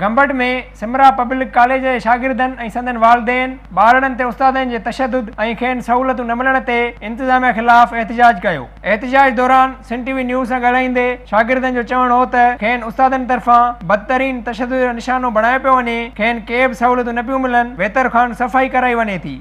Gambat ۾ Samra public college جي شاگردن ۽ سندن والدين ٻارڙن تي استادن جي تشدد ۽ کين سهولتون نه ملڻ تي انتظاميا خلاف احتجاج ڪيو احتجاج دوران سنڌ ٽي وي نيوز سان ڳالهائيندي شاگردن جو چوڻ هو ته کين استادن طرفان بدترين تشدد جو نشانو بڻايو پيو وڃي کين ڪي به سهولتون نه پيون ملن ويتر کان صفائي ڪرائي وڃي ٿي.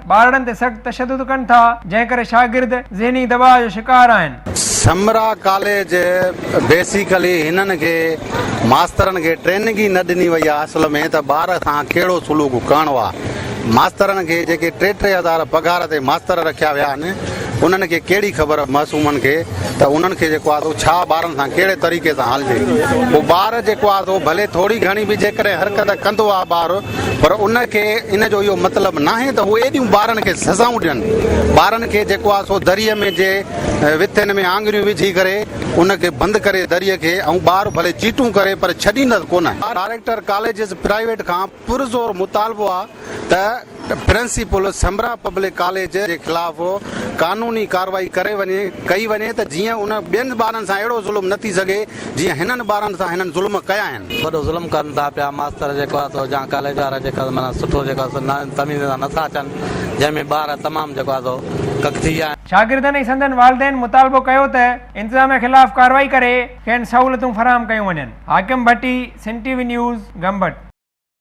ٻارڙن تي سخت تشدد ڪن ٿا، جنهن ڪري شاگرد ذهني دٻاء جو شڪار آهن. سمرا ڪاليج بيسيڪلي هنن کي ماسترن کي ٽريننگ ئي نه ڏني وئي آهي اصل ۾ ته ٻار سان ڪهڙو سلوڪ ڪرڻو آهي ماسترن کي جيڪي ٽي ٽي هزار پگهار تي ماستر رکيا ويا آهن انهن کي ڪهڙي خبر معصومن کي ته انهن کي جيڪو آهي سو ڇا ٻارن سان ڪهڙي طريقي سان هلجي پوء ٻار جيڪو آهي سو ڀلي ٿوري گهڻي به جيڪڏهن حرڪت ڪندو آهي ٻار پر ان کي ان جو اهو مطلب ناهي ته هو ايڏيون ٻارن کي سزائون ڏين. ٻارن کي جيڪو آهي سو دريء ۾ جي وٿين ۾ آڱريون وجهي ڪري ان کي بند ڪري دريء کي ۽ ٻار ڀلي چيٽون ڪري پر ڇڏيندس ڪونه. ڊائريڪٽر ڪاليجز پرائيويٽ کان پرزور مطالبو آهي ته پرنسپل سمرا پبلڪ ڪاليج جي خلاف قانوني ڪارروائي ڪري وڃي ڪئي وڃي ته جيئن ان ٻين ٻارن سان اهڙو ظلم نه ٿي سگهي جيئن هنن ٻارن سان هنن ظلم ڪيا آهن. وڏو ظلم ڪن ٿا پيا. ماستر جيڪو آهي سو جان ڪاليج وارا جيڪو آهي سو معنيٰ سٺو جيڪو آهي سو تميز سان نٿا اچن جنهن ۾ ٻار تمام جيڪو آهي سو ڪڪ ٿي ويا آهن. شاگردن ۽ سندن والدين مطالبو ڪيو ته انتظاميا خلاف ڪارروائي ڪري کين سهولتون فراهم ڪيون وڃن حاڪم ڀٽي سنٽي وي نيوز گمبٽ.